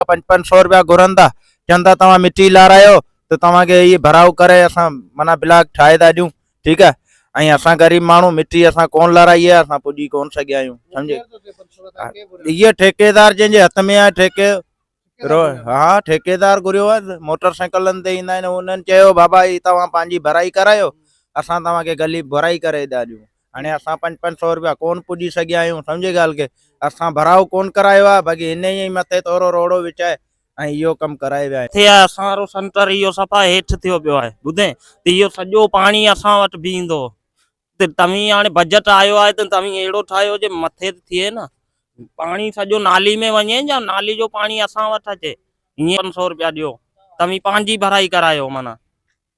ڏيندا، پنج پنج سئو رپيا گهرندا، چون ٿا توهان مٽي لارايو ته توهان کي هي ڀرائو ڪري اسان معنيٰ بلاڪ ٺاهي ٿا ڏيون، ٺيڪ آهي، ۽ اسان غريب ماڻهو مٽي اسان ڪونه لارائي آهي، اسان پڄي ڪونه سگهيا آهيون، سمجهي؟ هيء ٺيڪيدار جنهن جي هٿ ۾ آهي ٺيڪي رو ها ٺيڪيدار گهريو آهي، موٽر سائيڪلن تي ايندا آهن، انهن چيو بابا هي توهان پنهنجي ڀرائي ڪرايو، اسان توهان کي گلي ڀرائي ڪري ٿا ڏيون. هاڻي اسان پنج پنج سؤ روپيا ڪون پڄي سگهيا آهيون سمجهي ڳالهه کي اسان ڀراء ڪون ڪرايو آهي باقي هن ئي مٿي تورو روڙو وڇائي ۽ اهو ڪم ڪرائي ويا آهن. ٿئي آهي اسان رو سنٽر اهو صفا هيٺ ٿيو پيو آهي ٻڌين ته اهو سڄو پاڻي اسان وٽ بيهندو ته توهين هاڻي بجيٽ آيو آهي ته توهين اهڙو ٺاهيو جي مٿي ته ٿئي نه پاڻي سڄو نالي ۾ وڃي يا نالي جو پاڻي اسان وٽ اچي هيئن پنج سؤ روپيا ڏيو توهين پنهنجي ڀرائي ڪرايو معنيٰ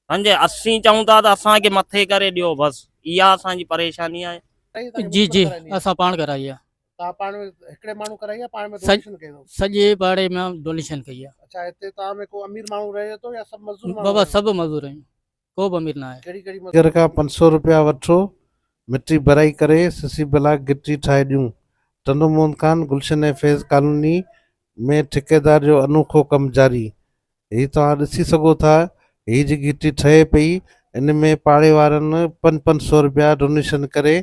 سنجي اسين چئون ٿا ته اسان کي مٿي ڪري ڏيو بس اها اسان جي پريشاني آهي. جي جي اسان پاڻ ڪرائي آ. توهان پاڻ ۾ هڪڙي ماڻهو ڪرائي آ پاڻ ۾ ڊونيشن ڪئي اٿو. سڄي پاڙي ۾ ڊونيشن ڪئي آ. اڇا هتي توهان ۾ ڪو امير ماڻهو رهي ٿو يا سڀ مزور ماڻهو. بابا سڀ مزور آهيون ڪو به امير ناهي. ڪهڙي ڪهڙي مزور. نگر کان پنج سو روپيا وٺو مٽي ڀرائي ڪري سسي بلاڪ گٽي ٺاهي ڏيون ٽنڊو موهن خان گلشن ۽ فيض ڪالوني ۾ ٺيڪيدار جو انوکو ڪم جاري. هي توهان ڏسي سگهو ٿا هي جي گهٽي ٺهي پئي ان ۾ پاڙي وارن پن پن سو رپيا ڊونيشن ڪري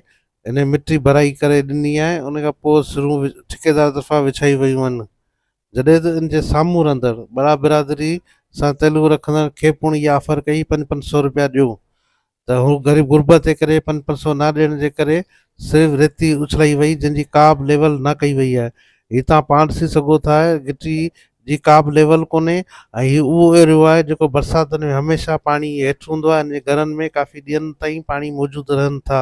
انهي مٽي ڀرائي ڪري ڏني آهي ان کان پوء سرون ٺيڪيدار طرفان وڇائي ويون هن جڏهن ته ان جي سامهون رهندڙ ٻڙا برادري سان تعلق رکندڙن کي پڻ اها آفر ڪئي پن پن سو رپيا ڏيو ته هو غريب غربت جي ڪري پن پنسو نه ڏيڻ جي ڪري صرف ريتي اڇلائي وئي جنهن جي ڪابه ليول نه ڪئي وئي آهي هي توهان پاڻ ڏسي سگهو ٿا گٽي جي ڪابه ليول ڪونهي ۽ هي اهو ايريو آهي جيڪو برساتن ۾ هميشه پاڻي هيٺ هوندو آهي هن جي گهرن ۾ ڪافي ڏينهن تائين پاڻي موجود رهن ٿا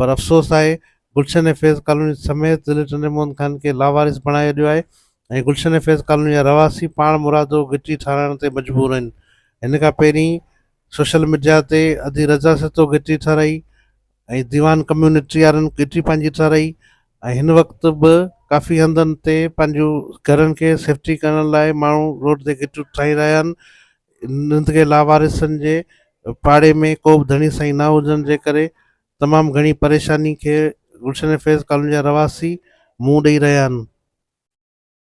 پر افسوس آهي گلشن ۽ فيض ڪالوني سميت ضلعي ٽنڊي محمد خان کي لاوارث بڻائي ڇڏيو آهي ۽ گلشن ۽ فيض ڪالوني جا رهواسي پاڻ مرادو گهٽي ٺاهرائڻ تي مجبور آهن هن کان پهرين سوشل ميڊيا تي ادي رضا سھتو ڳچي ٺھرائي ۽ ديوان ڪميونٽي وارن ڳچي پنھنجي ٺھرائي ۽ ھن وقت به ڪافي ھنڌن تي پنھنجون گھرن کي سيفٽي ڪرڻ لاء ماڻھو روڊ تي ڳچيون ٺھرائي رھيا آھن ھنڌ کي لاوارثن جي پاڙي ۾ ڪو به ڌڻي سائين نه ھجڻ جي ڪري تمام گھڻي پريشاني کي گلشن فيض ڪالوني جا رھواسي منھن ڏئي رھيا آھن.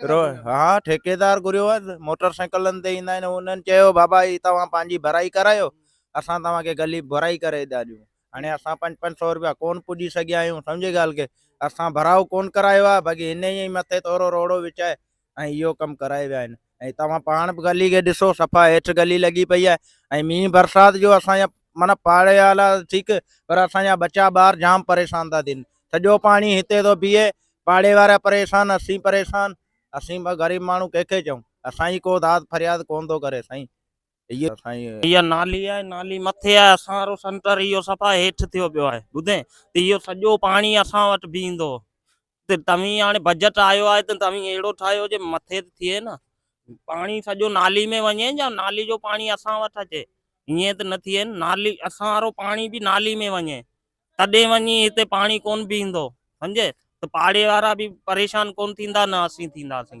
ها ٺيڪيدار گهريو هئس موٽر سائيڪلن تي ايندا آهن انهن چيو بابا هي توهان پنهنجي ڀرائي ڪرايو اسان توهان کي گلي ڀرائي ڪري ادا ڏيون هاڻي اسان پنج پنج سو روپيا ڪون پڄي سگهيا آهيون سمجهي ڳالهه کي اسان ڀراء ڪون ڪرايو آهي باقي هن ئي مٿي ٿورو روڙو وچائي ۽ اهو ڪم ڪرائي ويا آهن ۽ توهان پاڻ به گلي کي ڏسو صفا هيٺ گلي لڳي پئي آهي ۽ مينهن برسات جو اسان معنيٰ پاڙي وارا ٺيڪ پر اسان جا ٻچا ٻار جام پريشان ٿا ٿين سڄو پاڻي هتي ٿو بيهي پاڙي وارا پريشان اسين پريشان اسين به غريب ماڻهو ڪنهن کي چئون اسان جي ڪو داد فرياد ڪون ٿو ڪري سائين اهو سائين اها نالي آهي نالي مٿي آهي اسان وارو سنٽر اهو صفا هيٺ ٿيو پيو آهي ٻڌين ته اهو سڄو پاڻي اسان وٽ بيهندو ته توهين هاڻي بجيٽ آيو آهي ته توهين اهڙو ٺاهيو جو مٿي ته ٿئي نه پاڻي سڄو نالي ۾ وڃي يا نالي جو پاڻي اسان وٽ اچي ائين ته نه ٿئي نه نالي اسان وارو پاڻي به نالي ۾ وڃي تڏهن وڃي هتي پاڻي ڪون بيهندو سمجهي ته پاڙي وارا به پريشان ڪون ٿيندا نه اسين ٿينداسين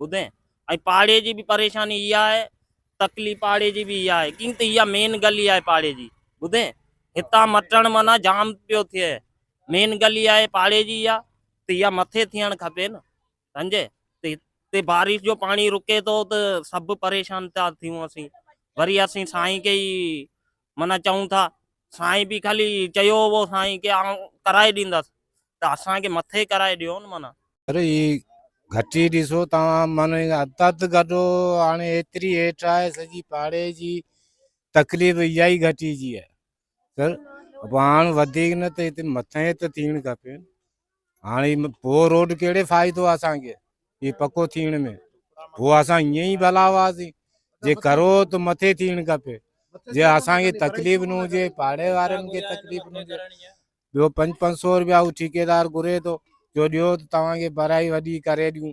ٻڌين ۽ پاڙي جي به پريشاني اها آهي تڪلي پاڙي جي به اها آهي ڪيئن ته اها مين گلي آهي پاڙي جي ٻڌين هتان مٽڻ معنيٰ جام پيو ٿئي مين گلي آهي پاڙي جي اها ته اها مٿي ٿيڻ کپي نه سمجهي ته بارش جو پاڻي رڪي ٿو ته سڀ پريشان ٿا ٿيون اسين وري اسين سائين کي معنيٰ چئون ٿا سائين به خالي چيو هئو سائين کي آئون ڪرائي ڏيندس ته اسان کي مٿي ڪرائي ڏيو نه معنيٰ. سر هي گهٽي ڏسو توهان معنيٰ هٿ هٿ گڏو هاڻي ايتري هيٺ آهي سڄي پاڙي جي تڪليف اها ئي گهٽي جي آهي سر پوء هاڻ وڌيڪ نه ته هتي مٿي ته ٿيڻ کپي. هاڻي پو روڊ کيڙي فائدو اسان کي هي پڪو ٿيڻ ۾ پو اسان هيئن ئي ڀلا هئاسين جي ڪرو ته مٿي ٿيڻ کپي جي اسان کي تڪليف نه هجي پاڙي وارن کي تڪليف نه هجي ٻيو پنج پنج سو روپيا هو ٺيڪيدار گهري ٿو جو ڏيو ته توهان کي براي وڏي ڪري ڏيون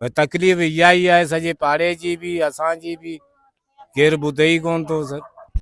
پر تڪليف اها ئي آهي سڄي پاڙي جي به اسان جي به ڪير ٻڌي ئي ڪونه ٿو سر